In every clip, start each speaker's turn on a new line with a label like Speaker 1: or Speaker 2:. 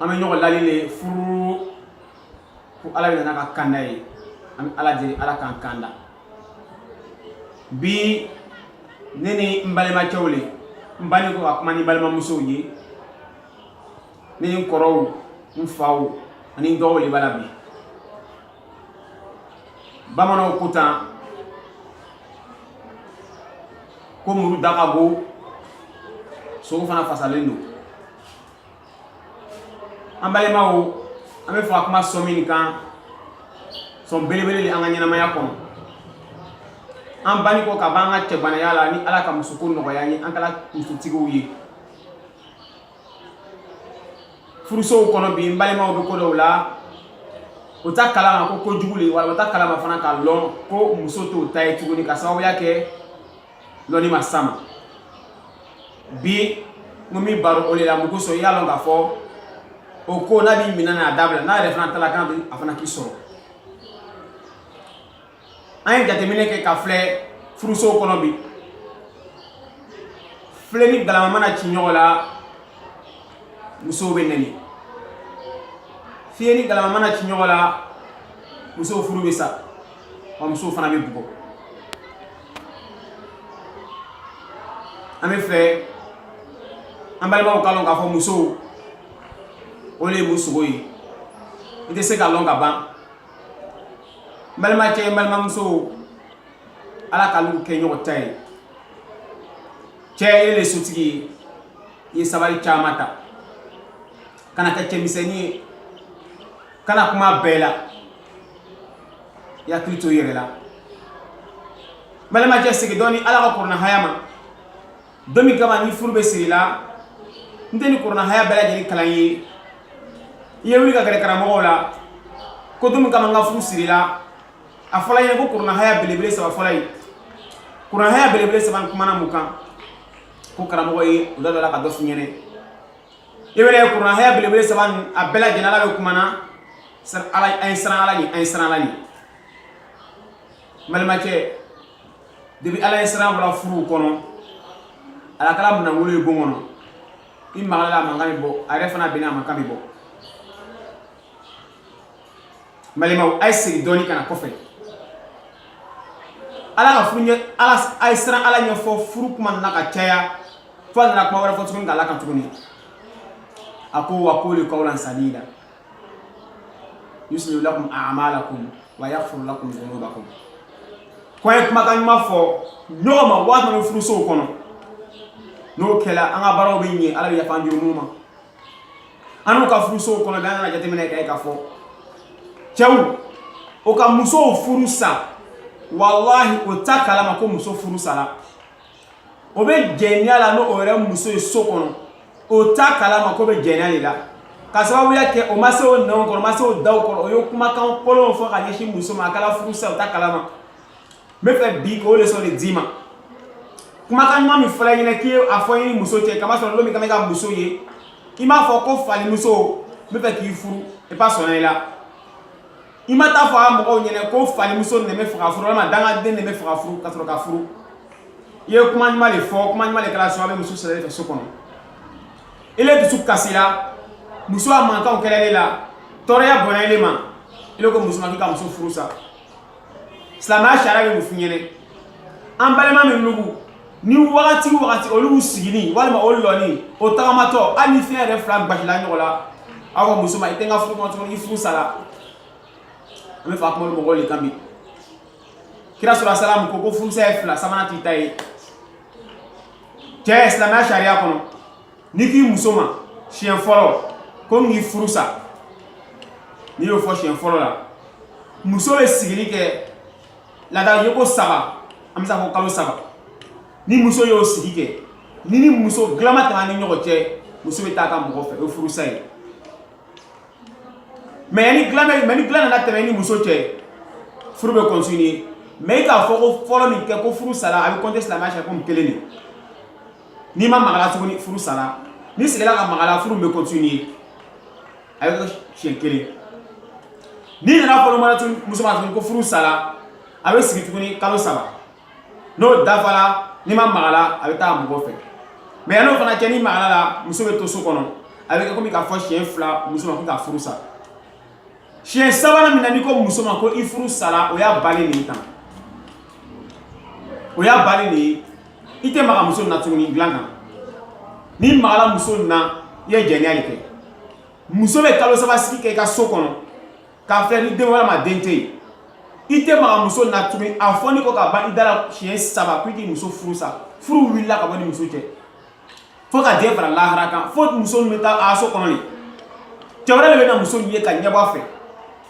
Speaker 1: an bɛ ɲɔgɔn lali le furu ko ala bɛ nana ka kanda ye an bɛ ala deli ala k'an kanda bi ne ni n balimacɛw le n bani kɔ ka kuma ni balimamusow ye ne ni n kɔrɔw n faw ani n dɔgɔw le b'a la bi bamananw ko tan ko muru da ka go sogo fana fasalen don an balimaw an b'a fɛ ka kuma sɔn min kan sɔn belebele le an ka ɲɛnamaya kɔnɔ an bani kɔ ka b'an ka cɛgbanaya la ni ala ka musoko nɔgɔya ye an kɛla musotigiw ye furusow kɔnɔ bi n balimaw bɛ ko dɔw la o t'a kalama ko ko jugu le wala o t'a kalama fana k'a lɔn ko muso t'o ta ye tuguni ka sababuya kɛ lɔnni ma s'a ma bi n ko min baro o le la mun kosɔn i y'a lɔn k'a fɔ o ko n'a b'i min na a dabila n'a yɛrɛ fana t'a la k'a bɛ a fana k'i sɔrɔ an ye jateminɛ kɛ ka filɛ furusow kɔnɔ bi filen ni galama mana ci ɲɔgɔn la musow bɛ nɛni fiye ni galama mana ci ɲɔgɔn la musow furu bɛ sa wa musow fana bɛ bugɔ an b'a fɛ an balimaw k'a lɔn k'a fɔ musow o le ye mun sogo ye i tɛ se k'a lɔn ka ban balimacɛ balimamuso ala k'alu kɛ ɲɔgɔn ta ye cɛ e le sotigi ye i ye sabari caman ta kana kɛ cɛmisɛnnin ye kana kuma bɛɛ la i hakili to i yɛrɛ la balimacɛ segin dɔɔni ala ka kuranahaya ma don min kama ni furu bɛ siri la n tɛ ni kuranahaya bɛɛ lajɛlen kalan ye i ye wuli ka gɛrɛ karamɔgɔw la ko don min kama n ka furu sirila a fɔla yen ko kuranahaya belebele saba fɔla ye kuranahaya belebele saba n kumana mun kan ko karamɔgɔ ye u da dɔ la ka dɔ f'u ɲɛna i bɛ ye kuranahaya belebele saba nin a bɛɛ lajɛlen ala bɛ kuma na a ye siran ala ɲɛ a ye siran ala ɲɛ n balimacɛ depi ala ɲɛsiran bɔla furu kɔnɔ ala kɛla minɛnkolon ye bon kɔnɔ i magala a mankan bɛ bɔ a yɛrɛ fana binna a mankan bɛ bɔ n balimaw a ye segin dɔɔni ka na kɔfɛ ala k'a f'u ɲɛna a ye siran ala ɲɛ fo furu kuma nana ka caya fo a nana kuma wɛrɛ fɔ tuguni k'a la a kan tuguni a ko wa kulu kawlan sadida yuslih lakum a'malakum wa yaghfir lakum dhunubakum ko a ye kumakan ɲuman fɔ ɲɔgɔn ma waati min furusow kɔnɔ n'o kɛla an ka baaraw bɛ ɲɛ ala bɛ yafa an jurumu ma anw ka furusow kɔnɔ bi an nana jateminɛ k'a ye k'a fɔ cɛw o ka musow furu sa walahi o t'a kalama ko muso furu sara o bɛ jɛnɛya la n'o yɛrɛ muso ye so kɔnɔ o t'a kalama k'o bɛ jɛnɛya de la ka sababuya kɛ o ma se o nɛnw kɔrɔ o ma se o daw kɔrɔ o ye kumakan kolonw fɔ ka ɲɛsin muso ma a kɛra furusa o t'a kalama n bɛ fɛ bi k'o leçon de d'i ma kumakan ɲuman min fɔra i ɲɛna k'i ye a fɔ i ni muso cɛ ka masɔrɔ don min i kɔnna ka muso ye i m'a fɔ ko falimuso n bɛ fɛ k'i furu i b'a sɔnna i la i ma taa fɔ a mɔgɔw ɲɛna ko falimuso ne bɛ fɛ k'a furu walima dangaden ne bɛ fɛ k'a furu ka sɔrɔ k'a furu i ye kuma ɲuman de fɔ kuma ɲuman de kɛra sababu ye muso sera i fɛ so kɔnɔ ile dusu kasira muso a mankanw kɛra ile la tɔɔrɔya bonyana ile ma ile ko muso ma k'i ka muso furu sa silamɛya sariya bɛ mun f'i ɲɛna an balima minnugu ni wagati wagati olu siginin walima o lɔnin o tagamatɔ hali ni fiyɛrɛ fila gbasila ɲɔgɔn la a ko muso ma i tɛ n ka furu kɔnɔ tuguni i furu sara an bɛ fɛ ka kuma mɔgɔw de kan bi kira sallallahu alayhi wa sallam ko ko furusa ye fila sabanan t'i ta ye cɛ silamɛya sariya kɔnɔ n'i k'i muso ma siɲɛ fɔlɔ ko n k'i furu sa n'i y'o fɔ siɲɛ fɔlɔ la muso bɛ sigili kɛ laada yeko saba an bɛ se k'a fɔ kalo saba ni muso y'o sigi kɛ n'i ni muso dilan ma tɛmɛ i ni ɲɔgɔn cɛ muso bɛ taa a ka mɔgɔ fɛ o ye furusa ye mɛ ni dilan nana tɛmɛ i ni muso cɛ furu bɛ kɔntine mɛ i k'a fɔko fɔlɔ min kɛ ko furu sara a bɛ kɔnte silamɛya sariya komi kelen de n'i ma maga a la tuguni furu sara n'i segila ka maga a la furu bɛ kɔntine a bɛ kɛ siɲɛ kelen n'i nana a fɔ filanan tun muso ma tuguni ko furu sara a bɛ sigi tuguni kalo saba n'o dafara n'i ma maga a la a bɛ taa mɔgɔ fɛ mɛ yan'o fana cɛ n'i magala a la muso bɛ to so kɔnɔ a bɛ kɛ komi i k'a fɔ siɲɛ fila muso ma ko k'a furu sara siɲɛ sabanan min na n'i ko muso ma ko i furu sara o y'a bannen de ye tan o y'a bannen de ye i tɛ maga muso na tuguni dilan kan n'i magala muso na i ye jɛnɛya de kɛ muso bɛ kalo saba sigi kɛ i ka so kɔnɔ k'a filɛ ni den walima den tɛ yen i tɛ maga muso na tuguni a fɔnin kɔ ka ban i da la siɲɛ saba ko i k'i muso furu sa furu wulila ka bɔ i ni muso cɛ fo ka diɲɛ fara lahara kan fo muso nin bɛ taa a so kɔnɔ yen cɛ wɛrɛ de bɛ na muso nin ye k'a ɲɛbɔ a fɛ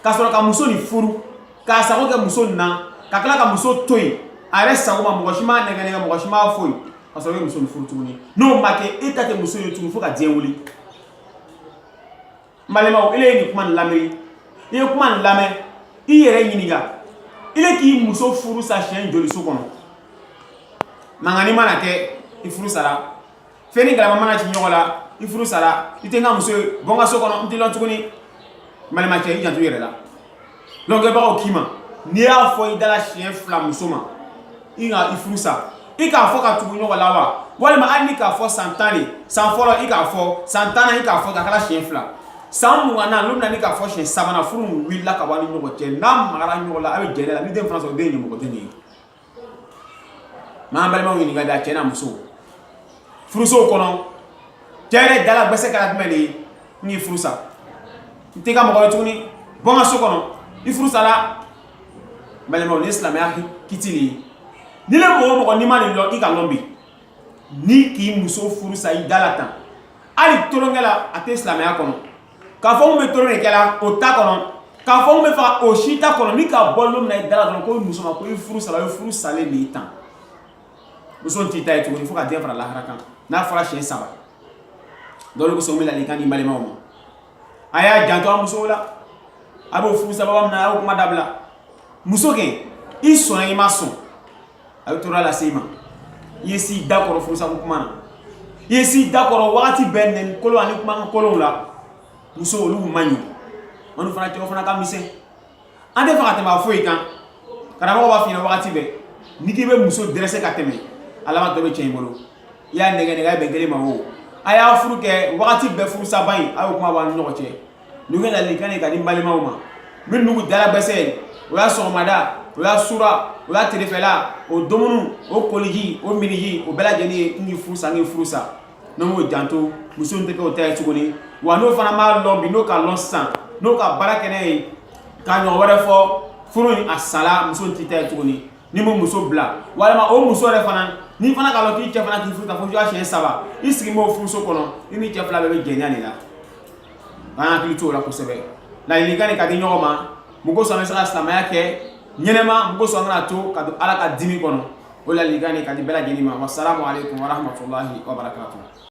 Speaker 1: ka sɔrɔ ka muso nin furu k'a sago kɛ muso nin na ka tila ka muso to yen a yɛrɛ sago ma mɔgɔ si m'a nɛgɛ nɛgɛ mɔgɔ si m'a foyi ka sɔrɔ i bɛ muso nin furu tuguni n'o ma kɛ e ta tɛ muso ye tuguni fo ka diɲɛ wuli n balimaw ele ye nin kuma nin lamɛn i ye kuma nin lamɛn i yɛrɛ ɲininka ele k'i muso furu sa siɲɛ joli so kɔnɔ mankani mana kɛ i furu sara fɛn ni galama mana ci ɲɔgɔn la i furu sara i tɛ n ka muso ye bɔ n ka so kɔnɔ n t'i lɔn tuguni balima cɛ i janto i yɛrɛ la lɔnkɛbagaw k'i ma n'i y'a fɔ i dala siɲɛ fila muso ma i ka i furu sa i k'a fɔ ka tugu ɲɔgɔn la wa walima hali n'i k'a fɔ san tan de san fɔlɔ i k'a fɔ san tannan i k'a fɔ k'a kɛra siɲɛ fila san mugannan n'o bɛna n'i k'a fɔ siɲɛ sabanan furu wulila ka bɔ ni ɲɔgɔn cɛ n'a magara ɲɔgɔn la a bɛ jɛnɛya la ni den fana sɔrɔ den ɲamɔgɔden de ye n'an balimaw ɲininka da cɛ n'a muso furusow kɔnɔ cɛ yɛrɛ dala gbɛsɛ kɛra jumɛn de ye n k'i furu sa n t'i ka mɔgɔ ye tuguni bɔ n ka so kɔnɔ i furu sala balimaw ni silamɛya kiti de ye nin ne mɔgɔ o mɔgɔ n'i ma nin lɔn i k'a lɔn bi n'i k'i muso furu sa i dala tan hali tolonkɛ la a tɛ silamɛya kɔnɔ K'a fɔ n bɛ tolon de kɛla o t'a kɔnɔ k'a fɔ n bɛ fa o si t'a kɔnɔ n'i k'a bɔ lon min na i dala dɔrɔn ko muso ma k'i furu sala furu salen de ye tan muso t'i ta ye tuguni fo ka diɲɛ fara lahara kan n'a fɔra siɲɛ saba dɔrɔn n bɛ ladilikan di balimaw ma a y'a janto a musow la a bɛ furusaba min na a y'o kuma dabila muso kɛ i sɔnna i ma sɔn a bɛ tɔɔrɔ lase i ma i ye s'i da kɔrɔ furusako kuma na i ye s'i da kɔrɔ wagati bɛɛ nɛni kolon ani kumakan kolonw la muso olu man ɲi anw fana cɛw fana ka misɛn an t'a fɛ ka tɛmɛ a foyi kan karamɔgɔ b'a f'i ɲɛna wagati bɛɛ n'i k'i bɛ muso dɛrɛsɛ ka tɛmɛ a labantɔ bɛ cɛn i bolo i y'a nɛgɛ nɛgɛ a ye bɛn kelen ma o a y'a furu kɛ wagati bɛɛ furusaba in a y'o kuma b'an ni ɲɔgɔn cɛ n'o kɛ ladilikan ye k'a di balimaw ma minnugu dala gbɛsɛ o y'a sɔgɔmada o y'a sura o y'a terefɛla o dumuni o koliji o miniji o bɛɛ lajɛlen ye n k'i furu sa n k'i furu sa n'o m'o janto muso tɛ kɛ o ta ye tuguni wa n'o fana m'a lɔn bi n'o k'a lɔn sisan n'o ka baara kɛ n'a ye k'a ɲɔgɔn wɛrɛ fɔ furu in a sala muso t'i ta ye tuguni n'i ma muso bila walima o muso yɛrɛ fana n'i fana k'a lɔn k'i cɛ fana k'i furu sa fo siɲɛ saba i sigi b'o furuso kɔnɔ i ni cɛ fila bɛɛ bɛ jɛnɛya de la an hakili t'o la kosɛbɛ ladilikan de k'a di ɲɔgɔn ma mun kosɔn an bɛ se ka silamɛya kɛ ɲɛnɛma mun kosɔn an kana to ka don ala ka dimi kɔnɔ o ladilikan de k'a di bɛɛ lajɛlen ma wasalamu aleykum warahmatulahi wabarakatuh